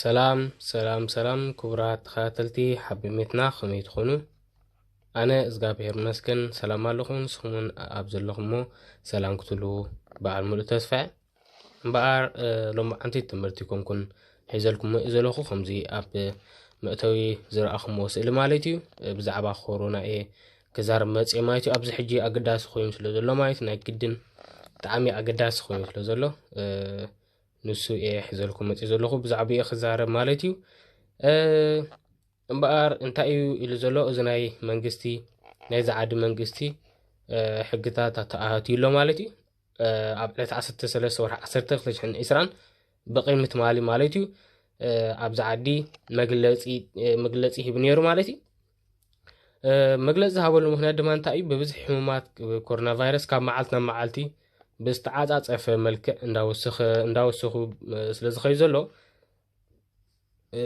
ሰላም ሰላም ሰላም ክቡራት ተኸታተልቲ ሓቢ ሜትና ከመይ ትኾኑ ኣነ እዝጋብሄር መስገን ሰላም ኣለኹ ንስኹምን ኣብ ዘለኹሞ ሰላም ክትህልዉ በዓል ሙሉእ ተስፋ እምበኣር ሎሚ ዓንቲ ትምህርቲ ኮንኩን ሒዘልኩም ዘለኹ ከምዚ ኣብ መእተዊ ዝረኣኹምዎ ስእሊ ማለት እዩ ብዛዕባ ኮሮና እየ ክዛረብ መፅእ ማለት እዩ ኣብዚ ሕጂ ኣገዳሲ ኮይኑ ስለ ዘሎ ማለት ናይ ግድን ብጣዕሚ ኣገዳሲ ኮይኑ ስለ ዘሎ ንሱ እየ ሕዘልኩም መፅእ ዘለኹ ብዛዕባ እየ ክዛረብ ማለት እዩ እምበኣር እንታይ እዩ ኢሉ ዘሎ እዚ ናይ መንግስቲ ናይ ዝዓዲ መንግስቲ ሕግታት ኣተኣሃትዩ ኣሎ ማለት እዩ ኣብ ዕለት 13 ወርሒ 1 220 ብቕድሚ ትማሊ ማለት እዩ ኣብዚ ዓዲ መግለፂ ሂቡ ነይሩ ማለት እዩ መግለፂ ዝሃበሉ ምክንያት ድማ እንታይ እዩ ብብዝሒ ሕሙማት ኮሮና ቫይረስ ካብ መዓልቲ ናብ መዓልቲ ብዝተዓፃፀፈ መልክዕ እንዳወሰኹ ስለ ዝኸዩ ዘሎ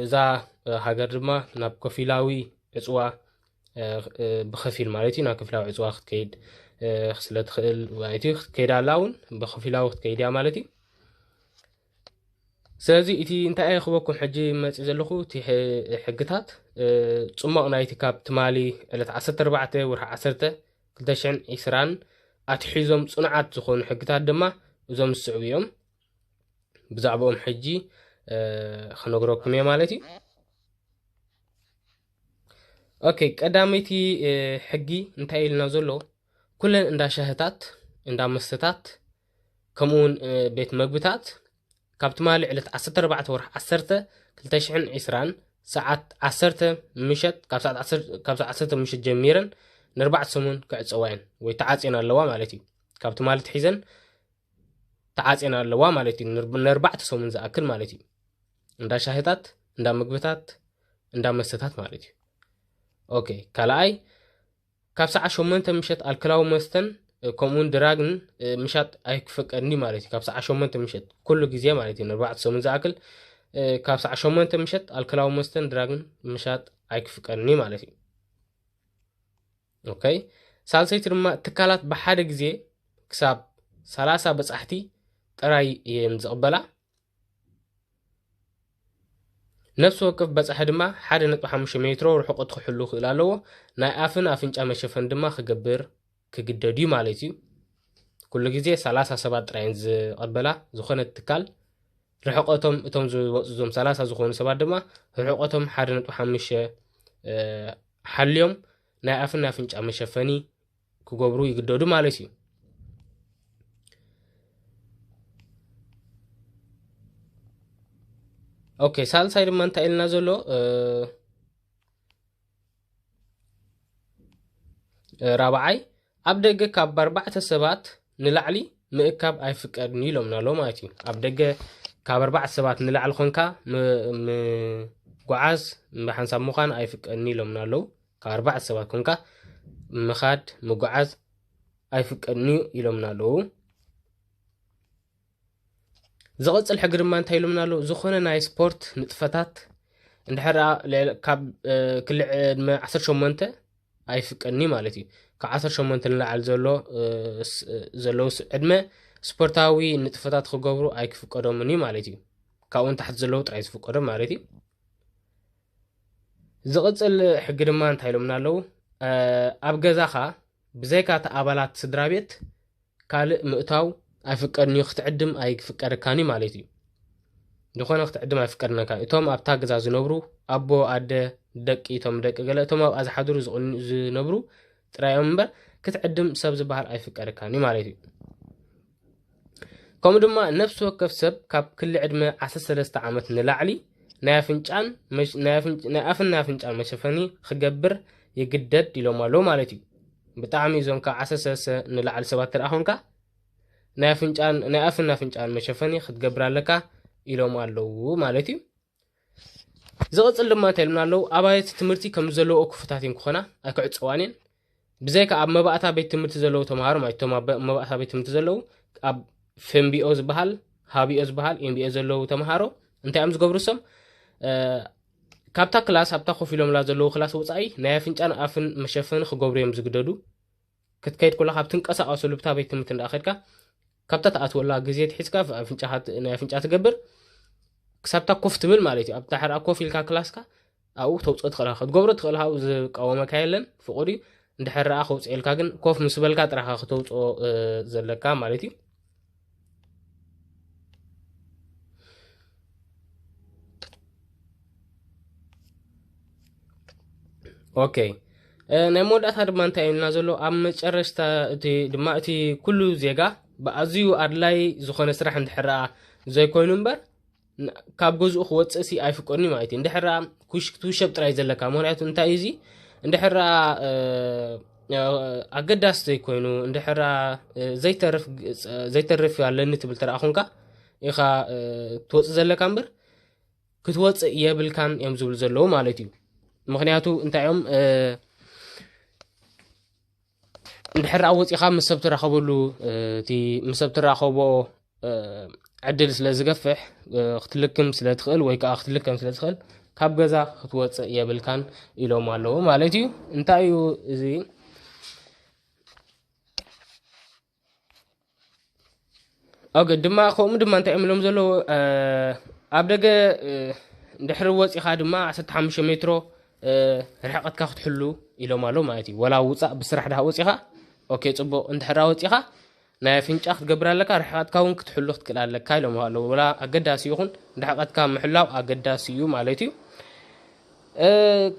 እዛ ሃገር ድማ ናብ ከፊላዊ ዕፅዋ ብከፊል ማለት እዩ ናብ ከፊላዊ ዕፅዋ ክትከይድ ስለትኽእል ማለት እዩ ክትከይድ ኣላ እውን ብከፊላዊ ክትከይድ እያ ማለት እዩ ስለዚ እቲ እንታይ እየ ክበኩም ሕጂ መፂ ዘለኹ እቲ ሕግታት ፅሞቕ ናይቲ ካብ ትማሊ ዕለት 14 ወርሒ 10 2020 ኣትሒዞም ፅኑዓት ዝኾኑ ሕግታት ድማ እዞም ዝስዕቡ እዮም ብዛዕባኦም ሕጂ ክነግረኩም እየ ማለት እዩ ኦኬ ቀዳመይቲ ሕጊ እንታይ ኢልና ዘሎ ኩለን እንዳ ሻህታት እንዳ መስተታት ከምኡ እውን ቤት መግብታት ካብ ትማሊ ዕለት 14 ወርሒ 10 2020 ሰዓት 10 ምሸት ካብ ሰዓት 10 ምሸት ጀሚረን ንርባዕተ ሰሙን ክዕፀዋ እየን ወይ ተዓፅየን ኣለዋ ማለት እዩ ካብ ትማሊ ትሒዘን ተዓፅየን ኣለዋ ማለት እዩ ንርባዕተ ሰሙን ዝኣክል ማለት እዩ እንዳ ሻሂታት እንዳ ምግብታት እንዳ መስተታት ማለት እዩ ኦኬ ካልኣይ ካብ ሰዓት ሸሞንተ ምሸት ኣልክላዊ መስተን ከምኡውን ድራግን ምሻጥ ኣይክፈቀድኒ ማለት እዩ ካብ ሰዓት ሸሞንተ ምሸት ኩሉ ግዜ ማለት እዩ ንርባዕተ ሰሙን ዝኣክል ካብ ሰዓት ሸሞንተ ምሸት ኣልክላዊ መስተን ድራግን ምሻጥ ኣይክፍቀድኒ ማለት እዩ ኦከይ ሳልሰይቲ ድማ ትካላት ብሓደ ግዜ ክሳብ ሰላሳ በፃሕቲ ጥራይ እየን ዝቕበላ ነፍሲ ወከፍ በጻሒ ድማ ሓደ ነጥቢ ሓሙሽተ ሜትሮ ርሕቐቱ ክሕሉ ክእል ኣለዎ። ናይ ኣፍን ኣፍንጫ መሸፈን ድማ ክገብር ክግደድ እዩ ማለት እዩ። ኩሉ ግዜ ሰላሳ ሰባት ጥራይ ዝቐበላ ዝኾነት ትካል ርሕቐቶም እቶም ዝወፁ ዞም ሰላሳ ዝኾኑ ሰባት ድማ ርሕቐቶም ሓደ ነጥቢ ሓሙሽተ ሓልዮም ናይ ኣፍን ኣፍንጫ መሸፈኒ ክገብሩ ይግደዱ ማለት እዩ ኦኬ ሳልሳይ ድማ እንታይ ኢልና ዘሎ ራብዓይ ኣብ ደገ ካብ ኣርባዕተ ሰባት ንላዕሊ ምእካብ ኣይፍቀድን ኢሎምና ኣሎ ማለት እዩ ኣብ ደገ ካብ ኣርባዕተ ሰባት ንላዕሊ ኮንካ ምጓዓዝ ብሓንሳብ ምዃን ኣይፍቀድን ኢሎምና ኣለዉ ካብ ኣርባዕተ ሰባት ኮንካ ምኻድ ምጉዓዝ ኣይፍቀድን እዩ ኢሎምና ኣለዉ ዝቕፅል ሕጊ ድማ እንታይ ኢሎምና ኣለዉ ዝኾነ ናይ ስፖርት ንጥፈታት እንድሕር ካብ ክልዕ ዕድመ 18 ኣይፍቀድን እዩ ማለት እዩ ካብ 18 ንላዕሊ ዘሎ ዘለዉ ዕድመ ስፖርታዊ ንጥፈታት ክገብሩ ኣይክፍቀዶምን እዩ ማለት እዩ ካብኡን ታሕቲ ዘለዉ ጥራይ ዝፍቀዶም ማለት እዩ ዝቕጽል ሕጊ ድማ እንታይ ኢሎምና ኣለዉ? ኣብ ገዛኻ ብዘይካ እቲ ኣባላት ስድራ ቤት ካልእ ምእታው ኣይፍቀድን እዩ፣ ክትዕድም ኣይፍቀደካን እዩ ማለት እዩ። ዝኾነ ክትዕድም ኣይፍቀድነካ እዩ። እቶም ኣብታ ገዛ ዝነብሩ ኣቦ፣ ኣደ፣ ደቂ፣ እቶም ደቂ ገለ፣ እቶም ኣብኣ ዝሓድሩ ዝነብሩ ጥራይ እዮም እምበር ክትዕድም ሰብ ዝበሃል ኣይፍቀደካን እዩ ማለት እዩ ከምኡ ድማ ነፍሲ ወከፍ ሰብ ካብ ክሊ ዕድመ 13 ዓመት ንላዕሊ ናይ ኣፍንጫን ናይ ኣፍን ናይ ኣፍንጫን መሸፈኒ ክገብር ይግደድ ኢሎም ኣለዉ ማለት እዩ ብጣዕሚ እዞም ካብ 13 ንላዕሊ ሰባት ተደኣ ኮንካ ናይ ኣፍንጫን ናይ ኣፍን ኣፍንጫን መሸፈኒ ክትገብር ኣለካ ኢሎም ኣለዉ ማለት እዩ ዝቕፅል ድማ እንታይ ኢሉና ኣለዉ ኣባይቲ ትምህርቲ ከም ዘለውኦ ክፉታት እየን ክኾና ኣይክዕፀዋን እየን ብዘይካ ኣብ መባእታ ቤት ትምህርቲ ዘለዉ ተምሃሮ ማለት እቶም ኣብ መባእታ ቤት ትምህርቲ ዘለዉ ኣብ ፍምቢኦ ዝበሃል ሃቢኦ ዝበሃል ኤምቢኦ ዘለዉ ተምሃሮ እንታይ እዮም ዝገብሩ ሰም ካብታ ክላስ ኣብታ ኮፍ ኢሎምላ ዘለዉ ክላስ ወፃኢ ናይ ኣፍንጫን ኣፍን መሸፈኒ ክገብሩ እዮም ዝግደዱ ክትከይድ ኮለኻ ኣብ ትንቀሳቐሰሉ ብታ ቤት ትምህርቲ እንዳ ከድካ ካብታ ትኣትወላ ግዜ ትሒዝካ ኣፍንጫኻ ናይ ኣፍንጫ ትገብር ክሳብታ ኮፍ ትብል ማለት እዩ ኣብታ ሕራ ኮፍ ኢልካ ክላስካ ኣብኡ ተውፅኦ ትኽእል ኢኻ ክትገብሮ ትኽእል ኢኻ ዝቃወመካ የለን ፍቑድ እዩ እንድሕር ረኣ ከውፅኤልካ ግን ኮፍ ምስ በልካ ጥራኻ ክተውፅኦ ዘለካ ማለት እዩ ኦኬ ናይ መወዳእታ ድማ እንታይ እዩና ዘሎ ኣብ መጨረሽታ እቲ ድማ እቲ ኩሉ ዜጋ ብኣዝዩ ኣድላይ ዝኾነ ስራሕ እንድሕር ዘይኮይኑ እምበር ካብ ገዝኡ ክወፅእ ሲ ኣይፍቀድን እዩ ማለት እዩ እንድሕር ኣ ክትውሸብ ጥራይ ዘለካ ምክንያቱ እንታይ እዩ እዚ እንድሕር ኣ ኣገዳሲ ዘይኮይኑ እንድሕር ኣ ዘይተርፍ ዘይተርፍ ኣለኒ ትብል ተረኣ ኮንካ ኢኻ ትወፅእ ዘለካ እምበር ክትወፅእ የብልካን እዮም ዝብሉ ዘለዉ ማለት እዩ ምክንያቱ እንታይ እዮም እንድሕር ደኣ ወጺኻ ምስ ሰብ ትራኸበሉ እቲ ምስ ሰብ ትራኸቦ ዕድል ስለ ዝገፍሕ ክትልክም ስለ ትኽእል ወይ ከዓ ክትልከም ስለ ትኽእል ካብ ገዛ ክትወፅእ የብልካን ኢሎም ኣለዉ ማለት እዩ እንታይ እዩ እዚ ኦኬ ድማ ከምኡ ድማ እንታይ እዮም ኢሎም ዘለዉ ኣብ ደገ ድሕሪ ወፂኻ ድማ 15 ሜትሮ ርሕቐትካ ክትሕሉ ኢሎም ኣሎ ማለት እዩ ወላ ውፃእ ብስራሕ ድሃ ወፂኻ ኦኬ ፅቡቕ እንድሕራ ወፂኻ ናይ ኣፍንጫ ክትገብር ኣለካ ርሕቐትካ እውን ክትሕሉ ክትክእል ኣለካ ኢሎም ኣለዉ ወላ ኣገዳሲ ይኹን ርሕቐትካ ምሕላው ኣገዳሲ እዩ ማለት እዩ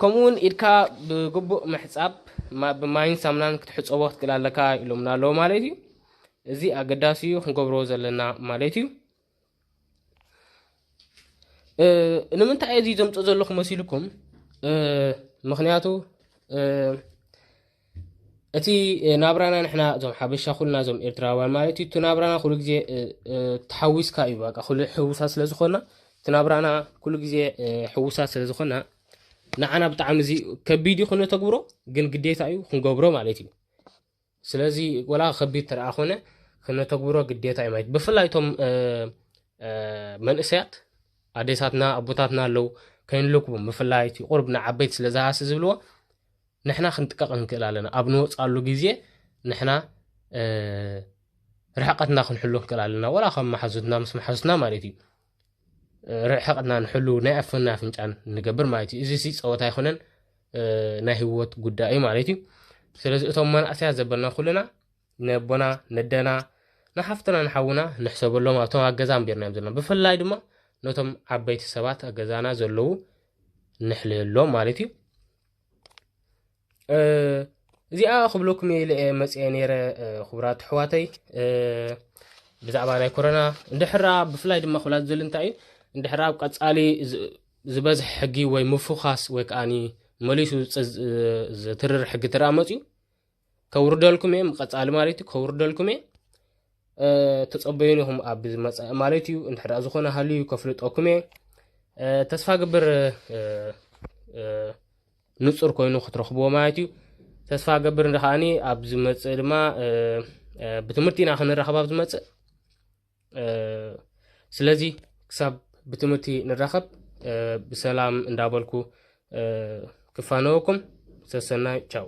ከምኡ ውን ኢድካ ብግቡእ ምሕጻብ ብማይን ሳሙናን ክትሕጸቦ ክትክእል ኣለካ ኢሎምና ኣለዉ ማለት እዩ። እዚ ኣገዳሲ እዩ ክንገብሮ ዘለና ማለት እዩ። ንምንታይ እዚ ዘምጽእ ዘለኹ መሲልኩም ምክንያቱ እቲ ናብራና ንሕና እዞም ሓበሻ ኩልና እዞም ኤርትራውያን ማለት እዩ እቲ ናብራና ኩሉ ግዜ ተሓዊስካ እዩ በቃ ኩሉ ሕውሳት ስለ ዝኾና እቲ ናብራና ኩሉ ግዜ ሕውሳት ስለ ዝኾና ንዓና ብጣዕሚ እዚ ከቢድ እዩ ክነተግብሮ ግን ግዴታ እዩ ክንገብሮ ማለት እዩ ስለዚ ወላ ከቢድ ተረኣ ኮነ ክነተግብሮ ግዴታ እዩ ማለት ብፍላይ እቶም መንእሰያት ኣዴታትና ኣቦታትና ኣለው ከይንልክቡም ብፍላይ እቲ ቁርብ ንዓበይቲ ስለ ዝሃሲ ዝብልዎ ንሕና ክንጥቀቕ ንክእል ኣለና ኣብ ንወፅኣሉ ግዜ ንሕና ርሕቀትና ክንሕሉ ንክእል ኣለና ወላ ከም መሓዙትና ምስ መሓዙትና ማለት እዩ ርሕቀትና ንሕሉ ናይ ኣፍን ናይ ኣፍንጫን ንገብር ማለት እዩ እዚ ሲ ፀወታ ኣይኮነን ናይ ህወት ጉዳይ እዩ ማለት እዩ ስለዚ እቶም መናእሰያት ዘበልና ኩልና ነቦና ነደና ንሓፍትና ንሓውና ንሕሰበሎም ኣብቶም ኣብ ገዛ ኣንቢርና እዮም ዘለና ብፍላይ ድማ ነቶም ዓበይቲ ሰባት ኣብ ገዛና ዘለዉ ንሕልየሎም ማለት እዩ እዚኣ ክብለኩም እየ ኢለ እየ መፅአ ነይረ ክቡራት ኣሕዋተይ ብዛዕባ ናይ ኮረና እንድሕራ ብፍላይ ድማ ክብላ ዝደሊ እንታይ እዩ እንድሕራ ኣብ ቀፃሊ ዝበዝሐ ሕጊ ወይ ምፉኻስ ወይ ከዓኒ መሊሱ ዝትርር ሕጊ ተረኣ መፅዩ ከውርደልኩም እየ ቀፃሊ ማለት እዩ ከውርደልኩም እየ ተፀበዩን ኢኹም ኣብ ዝመፀእ ማለት እዩ እንድሕዳ ዝኾነ ሃልዩ ከፍልጠኩም እየ ተስፋ ግብር ንፁር ኮይኑ ክትረኽብዎ ማለት እዩ ተስፋ ገብር ከዓኒ ኣብ ዝመፅእ ድማ ብትምህርቲ ኢና ክንራኸብ ኣብ ዝመፅእ ስለዚ ክሳብ ብትምህርቲ ንራኸብ ብሰላም እንዳበልኩ ክፋነወኩም ሰሰናይ ቻው